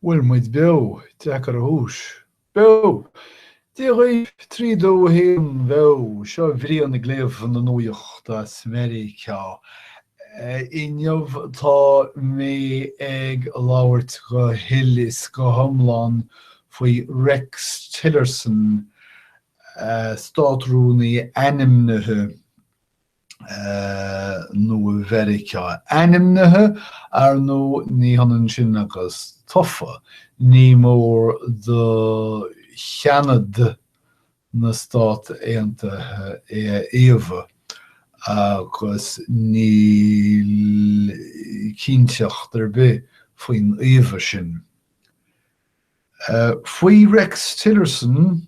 bhfuil muid beo? Deacair a thomhas. Beo! Dia dhaoibh! Trí, dó, a haon, beo! Seo Brian ag léamh na nuachta as Meiriceá. Inniu tá mé ag labhairt go huile is go hiomlán faoi Rex Tillerson, Státrúnaí ainmnithe. Nua Mheiriceá ainmnithe, ar ndóigh, ní hionann sin agus tofa, ní mór do Sheanad na Stát Aontaithe é a fhaomhadh, agus níl cinnteacht ar bith faoin fhaomhadh sin. Faoi Rex Tillerson,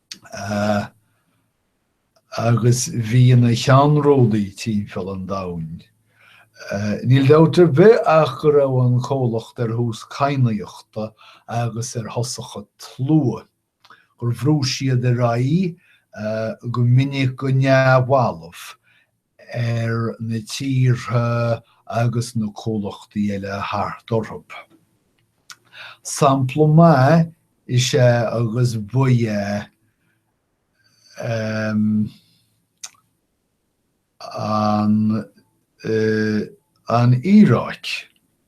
agus bhí ina cheannródaí timpeall an domhain. Níl dabht ar bith ach go raibh an comhlacht ar thús cadhnaíochta agus ar thosach an tslua, gur bhrúigh siad ar aghaidh go minic go neamhbhalbh, ar na tíortha agus na comhlachtaí eile thart orthu. Sampla maith is ea agus ba ea an Iaráic.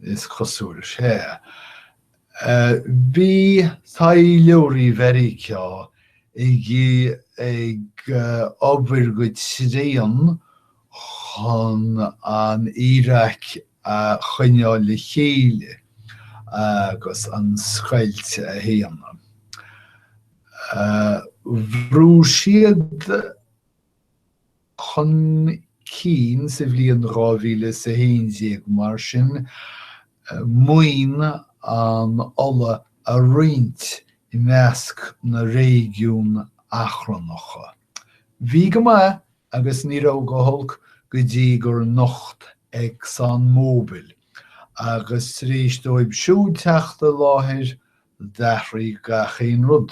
is cosúil, sea. Bhí taidhleoirí Mheiriceá ag obair go tréan chun an Iaráic a choinneáil le chéile agus an scoilt a shéanadh. Bhrúigh siad chun cinn sa bhliain 2011, mar sin, maoin an ola a roinnt i measc na réigiún achrannacha. Bhí go maith agus ní raibh go holc go dtí gur nocht Exxon Mobil, agus tar éis dóibh siúd teacht i láthair, d'athraigh gach aon rud.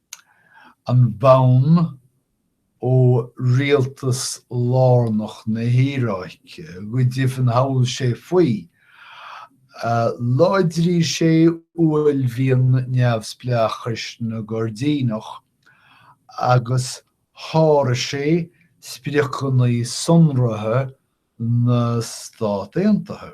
an bonn ó rialtas lárnach na hIaráice go deimhin, thochail sé faoi, láidrigh sé uaillmhian neamhspleáchais na gCoirdíneach agus sháraigh sé spriocanna sonraithe na Stát Aontaithe.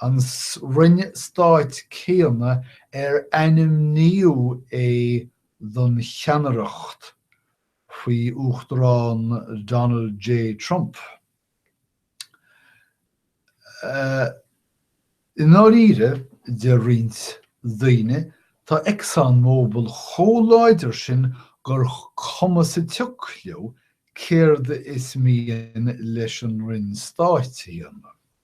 an Roinn Stáit céanna ar ainmníodh é don cheannaireacht faoi Uachtarán Donald J. Trump. I ndáiríre, deir roinnt daoine, tá Exxon Mobil chomh láidir sin gur cuma sa tsioc leo céard is mian leis an Roinn Stáit a dhéanamh.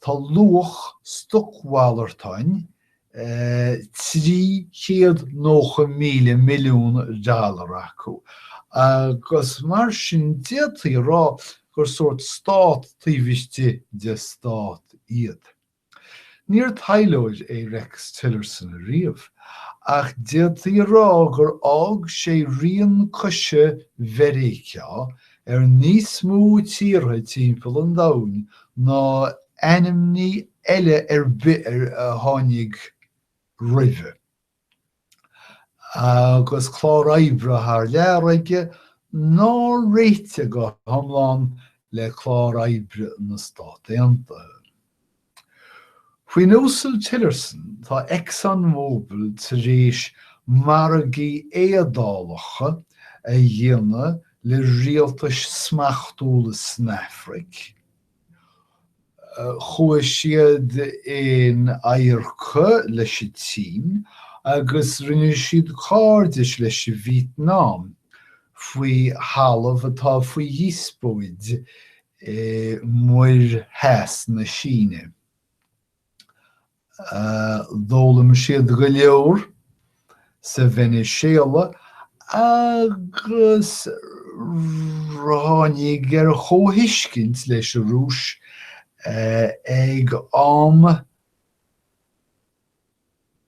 Tá luach stocmhalartáin $390,000 milliún acu agus mar sin d'fhéadfaí a rá gur sórt stát taobh istigh de stát iad. Níor taidhleoir é Rex Tillerson ariamh ach d'fhéadfaí a rá gur fhág sé rian coise Mheiriceá ar níos mó tíortha timpeall an domhain ná ainmní eile ar bith a tháinig roimhe, agus clár oibre thar lear aige nár réitigh go hiomlán le clár oibre na Stát Aontaithe. Faoin Uasal Tillerson, tá Exxon Mobil tar éis margaí éadálacha a dhéanamh le rialtais smachtúla san Afraic, chuaigh siad in adharca leis an tSín agus rinne siad cairdis leis Vítneam faoi thalamh atá faoi dhíospóid i Muir Theas na Síne. D'fhoghlaim siad go leor sa Veiniséala agus ráinig ar chomhthuiscint leis an Rúis ag am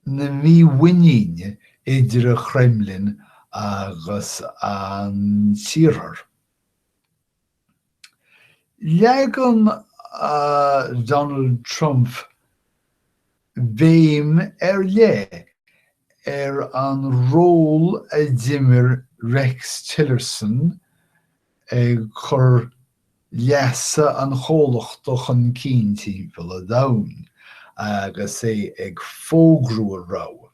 na mímhuiníne idir an Kremlin agus an tIarthar. Leagann Donald Trump béim ar leith ar an ról a d'imir Rex Tillerson ag cur leasa an chomhlachta chun cinn timpeall an domhain agus é ag fógrú a rogha.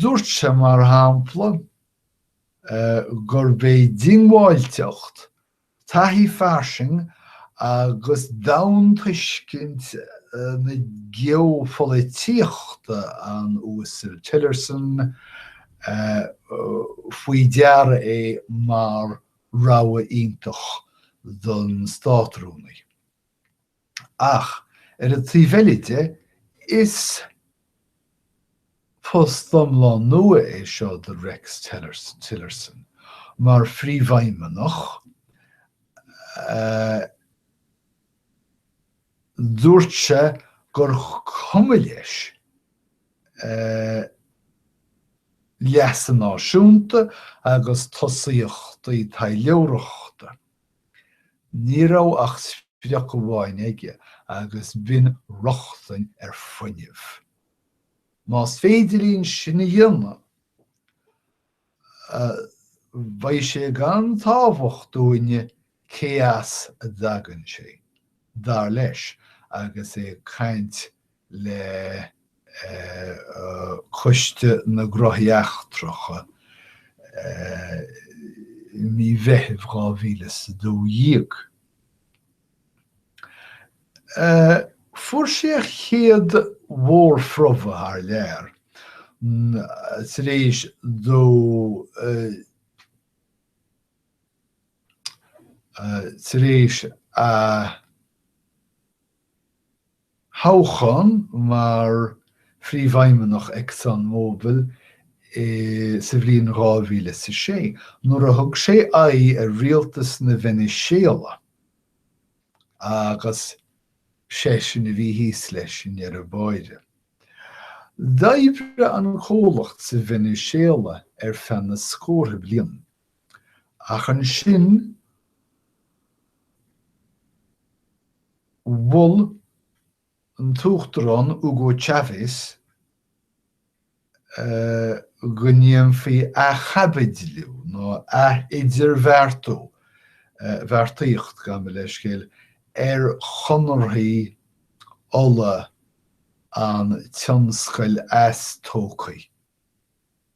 Dúirt sé, mar shampla, gurb é diongbháilteacht, taithí fairsing agus domhaintuiscint na geopholaitíochta an Uasail Tillerson faoi deara é mar rogha iontach don Státrúnaí. Ach ar an taobh eile de, is post iomlán nua é seo de Rex Tillerson mar phríomhfheidhmeannach. Dúirt sé gur cuma leis leasa náisiúnta agus tosaíochtaí taidhleoireachta. Ní raibh ach sprioc amháin aige agus b'in rochtain ar fhuinneamh. Más féidir linn sin a dhéanamh, beidh sé gan tábhacht dúinne cé as a dtagann sé, dar leis agus é ag caint le Coiste na nGnóthaí Eachtracha i mí Mheithimh dhá mhíle is a dó dhéag. Fuair sé a chéad mhórphromhadh thar lear tar éis dó tar éis a. thoghchán mar phríomhfheidhmeannach Exxon Mobil sa bhliain dhá mhíle is a sé, nuair a thug sé aghaidh ar rialtas na Veiniséala, agus seisean a bhí thíos leis i ndeireadh báire. D'oibrigh an comhlacht sa Veiniséala ar feadh na scórtha bliain. Ach ansin mhol an tUachtarán Hugo Chávez go ndéanfaí athchaibidliú nó ath-idirbheartú, bheartaíocht gabh mo leithscéal, ar chonarthaí ola an tionscail eastósctha.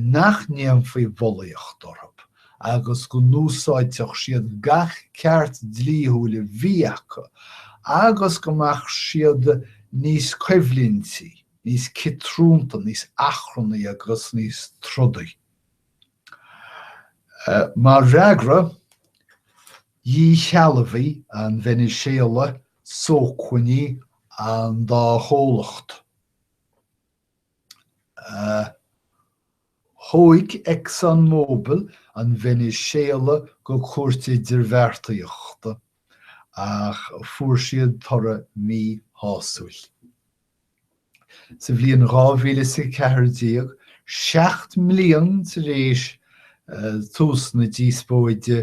nach ndéanfaí bulaíocht orthu agus go n-úsáidfeadh siad gach ceart dlíthiúil a bhí acu agus go mbeadh siad níos coimhlintí, níos ciotrúnta, níos achrannaí agus níos trodaí. Mar fhreagra, dhíshealbhaigh an Veiniséala sócmhainní an dá chomhlacht. Thóig Exxon Mobil an Veiniséala go Cúirt Idirbheartaíochta, ach fuair siad toradh míshásúil. Sa bhliain 2014, seacht mbliain tar éis tús na díospóide,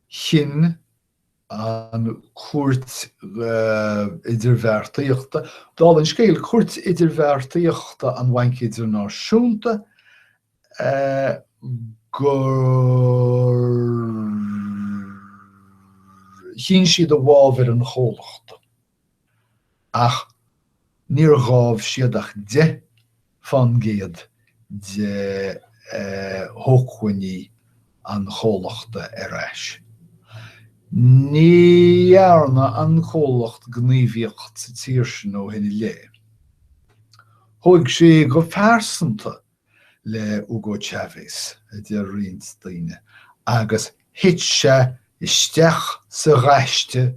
Chinn an chúirt idirbheartaíochta, dála an scéil, Cúirt Idirbheartaíochta an Bhainc Idirnáisiúnta, gur chinn siad i bhfabhar an chomhlachta. ach níor ghabh siad ach deich fán gcéad de shócmhainní an chomhlachta ar ais. Ní dhearna an comhlacht gníomhaíocht sa tír sin ó shin i leith. Thóig sé go phearsanta le Hugo Chávez, a deir roinnt daoine, agus thit sé isteach sa ghaiste,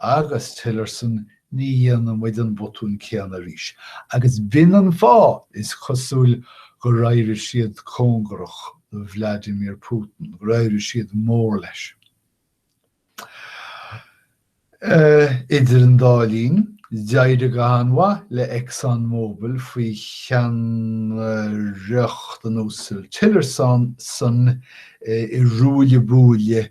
agus Tillerson ní dhéanfaidh muid an botún céanna arís, agus b'in an fáth, is cosúil, gur éirigh siad cóngarach do Vladimir Putin, gur éirigh siad mór leis. Idir an dá linn, d'éirigh go han-mhaith le Exxon Mobil faoi cheannaireacht an Uasail Tillerson sa ruaille buaille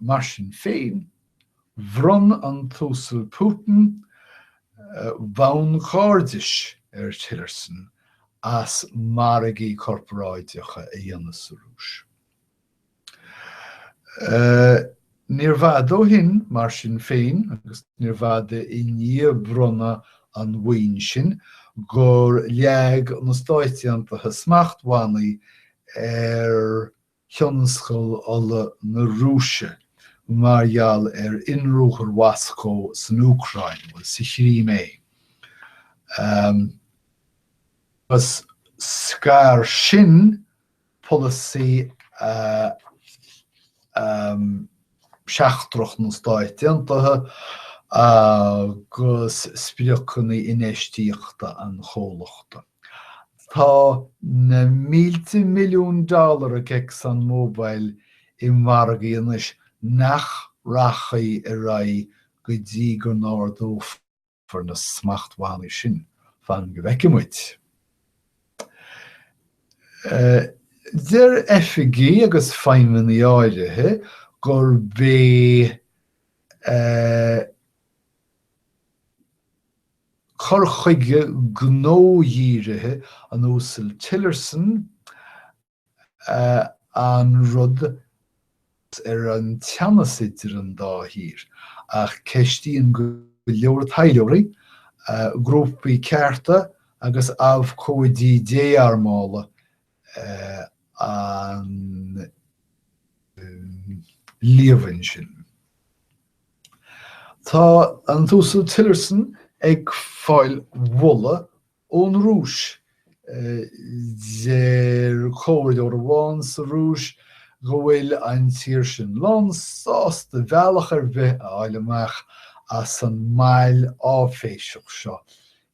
Mar sin féin, bhronn an tUasal Putin bonn cairdis ar Tillerson as margaí corparáideacha a dhéanamh sa Rúis. Níor bhfada ó shin, mar sin féin, agus níor bhfada i ndiaidh bronnadh an bhoinn sin, gur leag na Stáit Aontaithe smachtbhannaí ar. thionscal ola na Rúise mar gheall ar inruathar Mhoscó san Úcráin, bhuel sa Chrimé, agus scar sin polasaí. seachtrach na Stáit Aontaithe agus spriocanna infheistíochta an chomhlachta. Tá na mílte milliún dollar ag Exxon Mobil i margaí anois nach rachaidh ar aghaidh go dtí go n-ardófar. far na smachtbhannaí sin. Fan go bhfeice muid. Deir oifigigh agus feidhmeannaigh áirithe gurb é cur chuige gnó-dhírithe an Uasail Tillerson an rud ar an teannas idir an dá thír, ach ceistíonn go leor taidhleoirí, grúpaí cearta agus abhcóidí dé-armála an líomhain sin. Tá an tUasal Tillerson ag fáil moladh ón Rúis. Deir comhairleoir amháin sa Rúis go bhfuil an tír sin lán sásta bealach ar bith a fháil amach as an mbail áiféiseach seo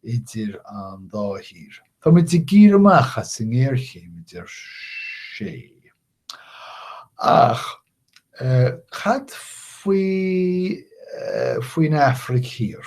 idir an dá thír. Táimid ag iarraidh amach as an ngéarchéim, a deir sé. Ach cad faoi, faoin Afraic Thiar?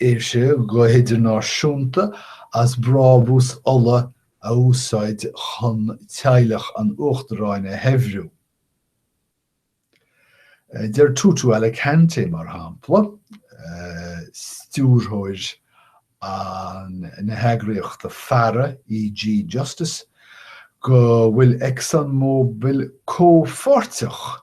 éigse go hidirnáisiúnta as brabús ola a úsáid chun teaghlach an uachtaráin a shaibhriú. Deir Tutu Alicante, mar shampla, stiúrthóir na heagraíochta faire EG Justice, go bhfuil Exxon Mobil comhpháirteach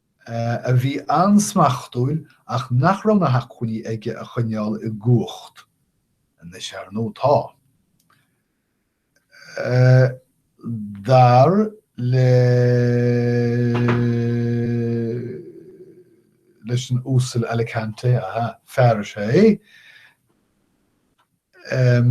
a bhí an-smachtúil ach nach raibh na hacmhainní aige a choinneáil i gcumhacht. Anois, ar ndóigh, tá. Dar le, leis an Uasal Alicante, aha, fear is ea é,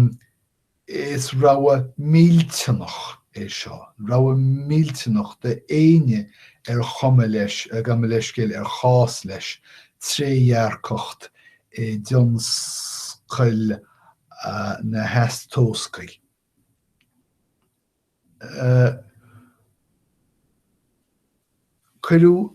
Is rogha millteanach é seo, rogha millteanach d'éinne ar chuma leis, gabh mo leithscéal, ar chás leis, trédhearcacht i dtionscail na heastósctha. Cuireadh.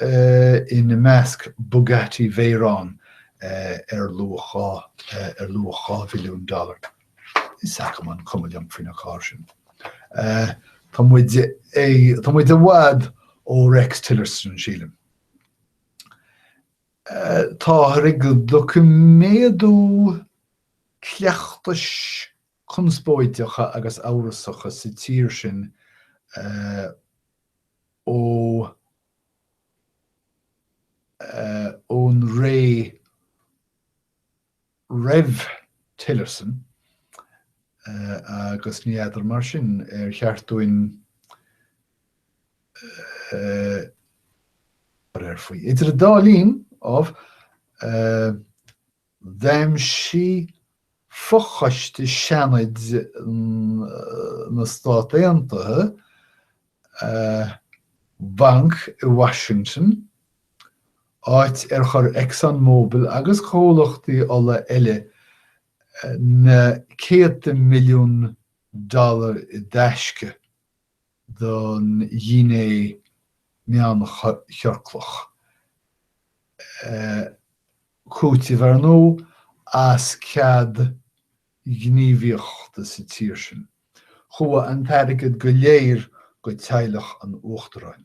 ina measc Bugatti Veyron ar luach, ar luach dhá mhilliún dollar. Is agam an, cuma liom faoin gcarr sin. Tá muid, tá muid i bhfad ó Rex Tillerson, sílim. Táthar ag doiciméadú cleachtais conspóideacha agus amhrasacha sa tír sin ón ré roimh Tillerson agus ní fheadar mar sin ar cheart dúinn cur air faoi. Idir an dá linn, ámh, D'aimsigh fochoiste Seanaid na Stát Aontaithe banc i Washington, áit ar chuir Exxon Mobil agus comhlachtaí ola eile na céadta milliún dollar i dtaisce. don Ghuine Mheánchiorclach. Cúiteamh, ar ndóigh, as cead gníomhaíochta sa tír sin. Chuaigh an t-airgead go léir go teaghlach an uachtaráin.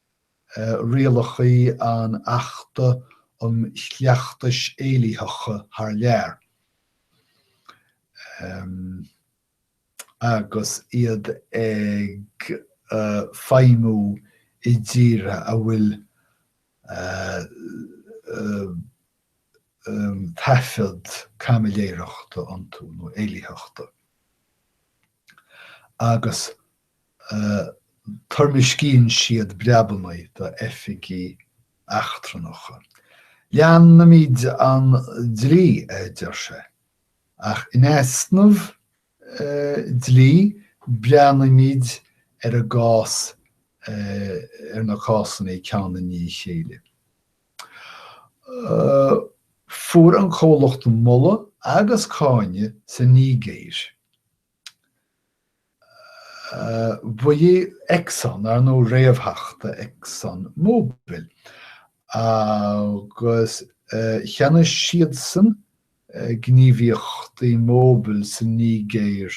rialacha an Achta um Chleachtais Éillitheacha thar lear, agus iad ag feidhmiú i dtíortha a bhfuil taifead caimiléireachta iontu nó éillitheachta, agus toirmiscíonn siad breabannaí do oifigigh eachtrannacha. Leanfaimid an dlí, a deir sé, ach in easnamh dlí breathnaímid ar an gcás, ar na cásanna ceann i ndiaidh a chéile. Fuair an comhlacht moladh agus cáineadh sa Nígéir. Bhuel Exxon, ar ndóigh, réamhtheachtaí Exxon Mobil, agus cheannaigh siadsan gníomhaíochtaí Mobil sa Nígéir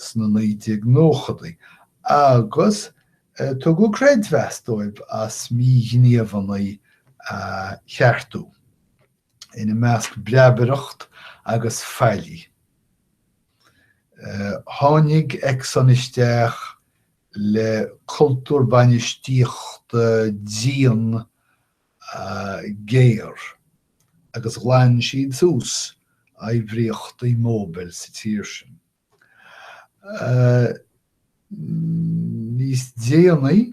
sna 1990idí agus tugadh creidmheas dóibh as míghníomhanna a cheartú. ina measc breabaireacht agus faillí. Tháinig Exxon isteach le cultúr bainistíochta dian géar agus ghlan siad suas oibríochtaí Mobil sa tír sin. Níos déanaí,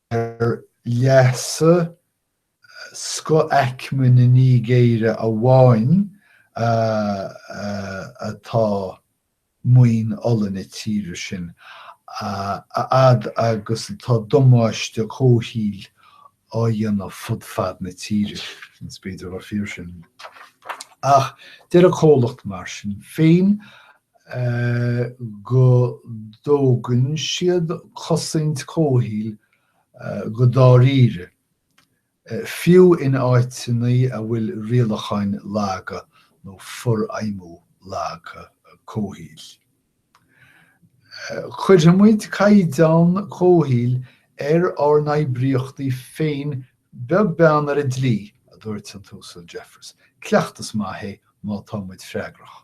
ar leasa scothaicme na Nígéire amháin atá maoin ola na tíre sin, a fhad agus atá damáiste comhshaoil á dhéanamh fud fad na tíre. B'fhéidir gur fíor sin. Ach deir an comhlacht, mar sin féin, go dtógann siad cosaint comhshaoil go dáiríre, fiú in áiteanna a bhfuil rialacháin laga nó forfheidhmiú laga comhshaoil. Cuirfidh muid caighdeán comhshaoil ar ár n-oibríochtaí féin beag beann ar an dlí, a dúirt an tUasal Jeffers. Cleachtas maith é má tá muid freagrach.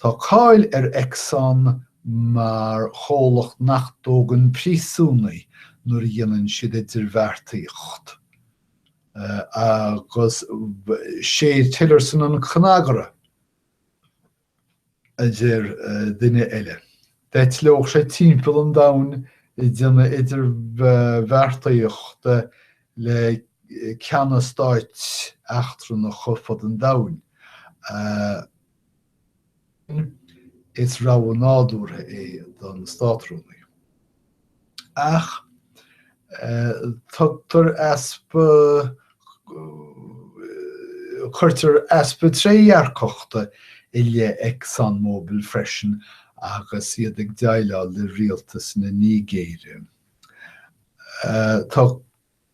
Tá cáil ar Exxon mar chomhlacht nach dtógann príosúnaigh nuair a dhéanann siad idirbheartaíocht. Agus sé Tillerson an cnagaire, a deir duine eile. D'eitleodh sé timpeall an domhain ag déanamh idirbheartaíochta le ceanna stáit eachtrannacha fud an domhain. Is rogha nádúrtha é don Státrúnaí. Ach tugtar easpa, cuirtear easpa trédhearcachta i leith ExxonMobil freisin agus iad ag déileáil le rialtas na Nigéire. Tá.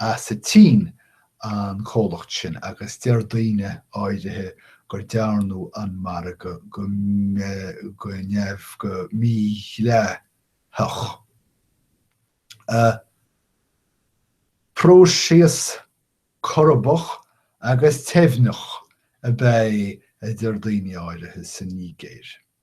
as an tSín, an comhlacht sin, agus deir daoine áirithe gur dearnadh an margadh go neamh, go mídhleathach. Próiseas corbach agus teimhneach ab ea é, a deir daoine áirithe sa Nígéir.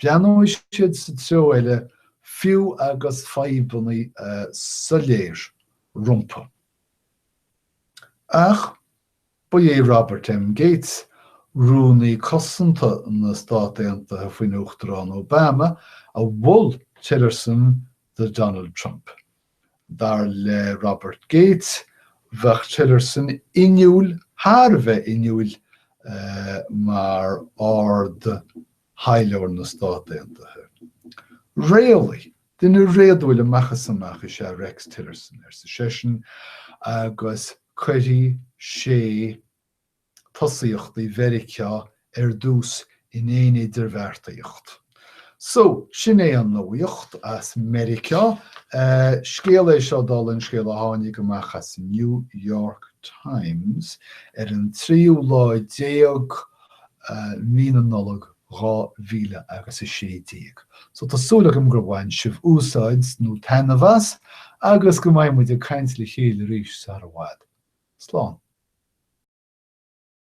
Breathnóidh siad sa treo eile fiú agus fadhbanna soiléir rompu. Ach ba é Robert M. Gates, Rúnaí Cosanta na Stát Aontaithe faoin Uachtarán Obama, a mhol Tillerson do Donald Trump. Dar le Robert Gates, bheadh Tillerson inniúil thar a bheith inniúil mar Ard thaidhleoir na Stát Aontaithe. Réalaí, duine réadúil amach is amach is ea Rex Tillerson, arsa seisean, agus cuirfidh sé tosaíochtaí Mheiriceá ar dtús in aon idirbheartaíocht. So, sin é an nuaíocht as Meiriceá. Scéal é seo dála an scéil a tháinig amach as New York Times ar an tríú lá déag mí na Nollag dhá mhíle agus a sé déag. So tá súil agam gur bhain sibh úsáid nó taitneamh as agus go mbeidh muid ag caint le chéile arís sara bhfad. Slán.